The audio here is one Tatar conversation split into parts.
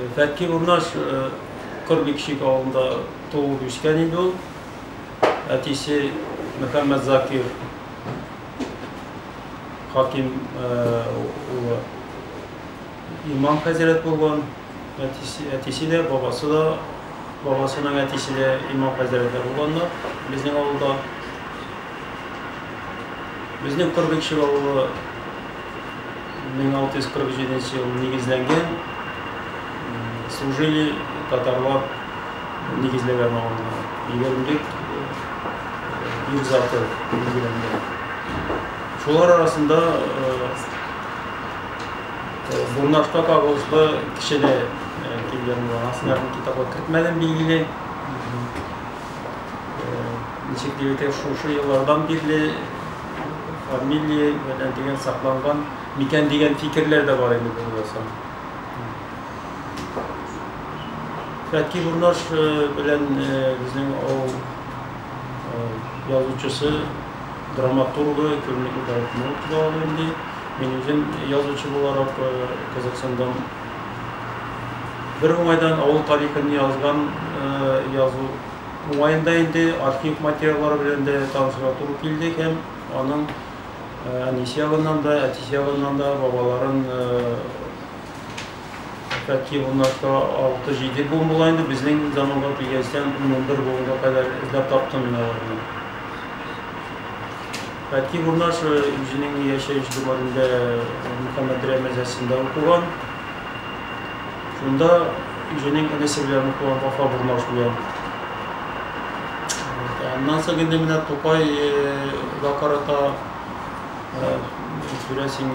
Фәкки Урнаш Корбикшик авылында туып үскән инде ул. Әтисе Мөхәммәт Закир Хаким улы имам хәзрәт булган. Әтисе, әтисе дә, бабасы да, бабасының әтисе дә имам хәзрәтләр булганнар безнең авылда. Безнең Корбикшик авылы 1647 нче ел нигезләнгән. Служили татарлар нигезләгән авылны. Егермелек ир заты билгеләнгән. Шулар арасында Бурнашка кагылышлы кеше дә килгән булган. Астыннан китапка кертмәдем, билгеле. Ничек дип әйтәм, шушы еллардан бирле фамилия белән дигән сакланган микән дигән фикерләр дә бар инде булмаса. Фәтки Бурнаш белән безнең авыл язучысы, драматургы Көнлек Ибраһимов да ул инде. Мин үзем язучы буларак Казахстандан Бер уңайдан авыл тарихын язган язу уңаенда инде архив материаллары белән дә танышырга туры килде һәм аның әнисе ягыннан да, әтисе ягыннан да бабаларын Фәтхи Буннашка 6-7 буын була инде, безнең заманга килгәнчтән 11 буынга кадәр эзләп таптым мин аларны. Әти Гурнаш үзенең яшәеш диварында Мөхәммәдрә мәдрәсәсендә укыган. Шунда үзенең энесе белән укыган Вафа Гурнаш белән. Аннан соң инде менә Тукайга карата күрәсең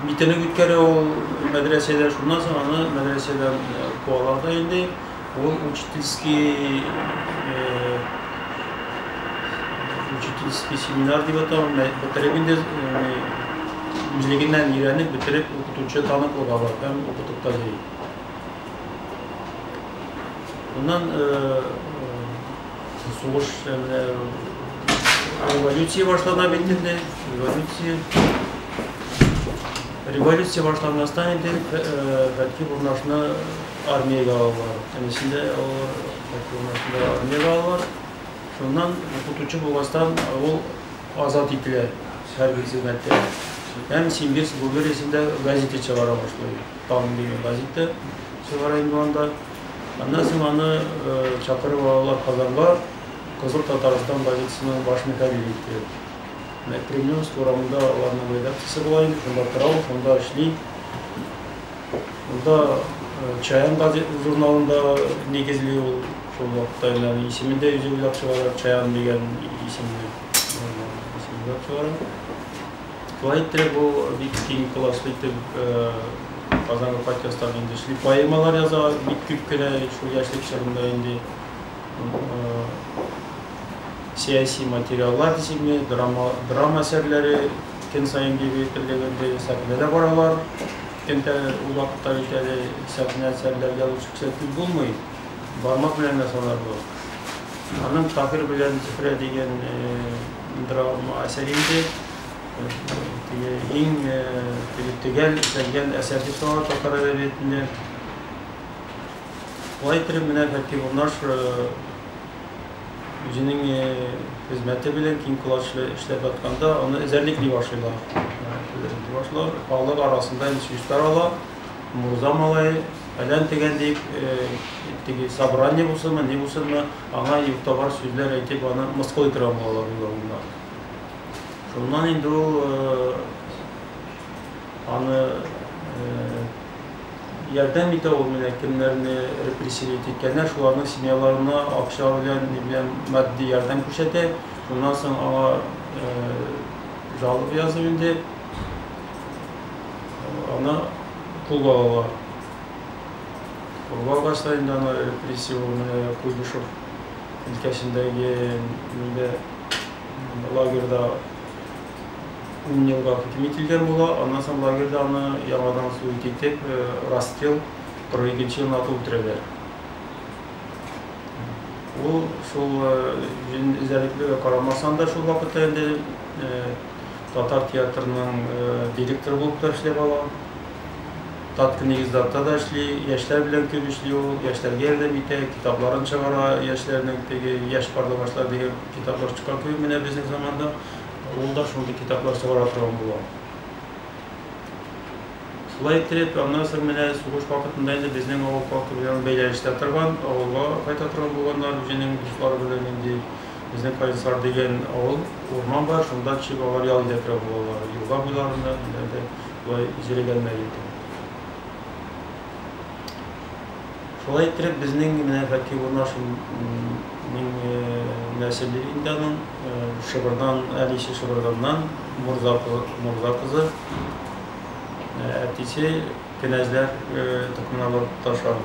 митинг үткәрә ул мәдрәсәдә. Шуннан соң аны мәдрәсәдән куалар да инде. Он учительский учительский семинар дип атау, бетереп инде үзлегеннән өйрәнеп бетереп укытучы таныклыга бар һәм укытып та йөри. Моннан сугыш революция башлана бит инде, революция революция башланмастан инде Фәтхи Бурнашны Армиягә алалар. Әнисен дә алалар, Фатимасын да армиягә алалар. Шуннан укытучы булгачтан ул азат ителә хәрби хезмәттән. Һәм Симбирск губерниясендә газета чыгара башлый. Таң дигән газета чыгара инде анда. Аннан соң аны чакырып алалар Казанга, Кызыл Татарстан газетасының баш мөхәррире итеп. Менә Кремлевск урамында аларның редакциясе була инде, шунда тора ул, шунда эшли. Монда Чаян газет журналында нигезли ул шул вакытта инде аны исемен дә үзе уйлап чыгара, Чаян дигән исемне исемен уйлап чыгара. Шулай иттереп ул бик киң колачлы итеп Казанга кайткан саен инде шли поэмалар яза, бик күп кенә шул яшьлек чорында инде сәяси материаллар исеме, драма драма әсәрләре Көн саен дип әйтерлек инде сәхнә дә баралар. Көн тә ул вакытта бит әле сәхнә әсәрләр язып чыксаң күп булмый. Бармак белән генә санарлык. Аның Таһир белән Зөһрә дигән драма әсәре инде теге иң теге төгәл эшләнгән әсәр дип санала татар әдәбиятында. Шулай иттереп менә Фәтхи Бурнаш үзенең хезмәте белән киң колачлы эшләп атканда, аны эзәрлекли башлыйлар. Эзәрлекли башлар, халык арасында инде сүз тарала, мурза малае, фәлән тегән дип, теге собрание булсынмы, ни булсынмы, аңа юк-табар сүзләр әйтеп, аны мыскыл итергән булалар үз алдына. Шуннан инде ул аны ярдәм итә ул менә кемнәрне репрессировать иткәннәр шуларның семьяларына акча белән ни белән матди ярдәм күрсәтә шуннан соң аңа жалоба язып инде аны кулга алалар кулга алгач та инде аны репрессия ул менә куйбышев өлкәсендәге нидә лагерьда ун елга хөкем ителгән була, аннан соң лагерьда аны яңадан суд итеп, расстрел 42 елына атып үтерәләр. Ул шул җен эзәрлеклегә карамасан да шул вакытта инде татар театрының директоры булып та эшләп ала. Татка нигездатта да эшли, яшьләр белән күп эшли ул, яшьләргә ярдәм итә, китапларын чыгара, яшьләрнең теге яшь барлы башлар дигән китаплар чыккан күп менә безнең заманда. Ул да шундый китаплар чыгара торган була. Шулай иттереп, аннан соң менә сугыш вакытында инде безнең авыл халкы белән бәйләнештә торган, авылга кайта торган булганнар, үзенең дуслары белән инде безнең Каенсар дигән авыл, урман бар, шунда төшеп алар ял итә торган булалар. Елга буйларында, ниләрдә болай җерегәннәр инде. Шулай иттереп, безнең менә Фәки Бурнашин нең нәселе инде аның, Шыбырдан, әнисе Шыбырданнан, Мурза Мурза кызы, әтисе кенәзләр токымына барып тоташа.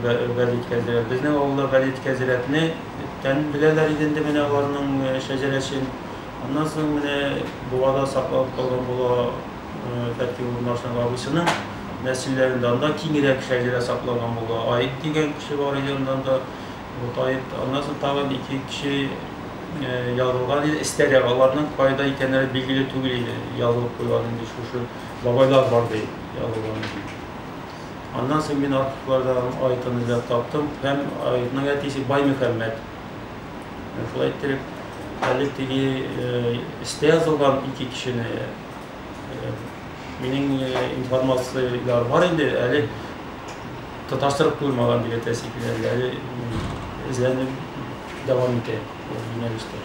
Вәлит Кәзирәт. Безнең авылда Вәлит Кәзирәтне тән беләләр иде инде менә аларның шәҗәрәсен. Аннан соң менә Бувада сакланып калган була Тәртип урнашына абыйсының нәселләрендә анда киңрәк шәҗәрә сакланган була. Аид дигән кеше бар иде аннан да. Вот Аид, аннан соң тагын ике кеше язылган иде, эстәрәк. Аларның кайда икәннәре билгеле түгел иде. Язылып куйган инде шушы бабайлар бар ди, язылган иде. Аннан соң мин архивларда Аидын эзләп таптым һәм Аидның әтисе Баймөхәммәт. Шулай иттереп, әле теге истә язылган ике кешене Минең информацияләр бар инде, әле таташтырып куймаган дип әйтәсе килә, әле эзләнеп дәвам итә юнәлештә.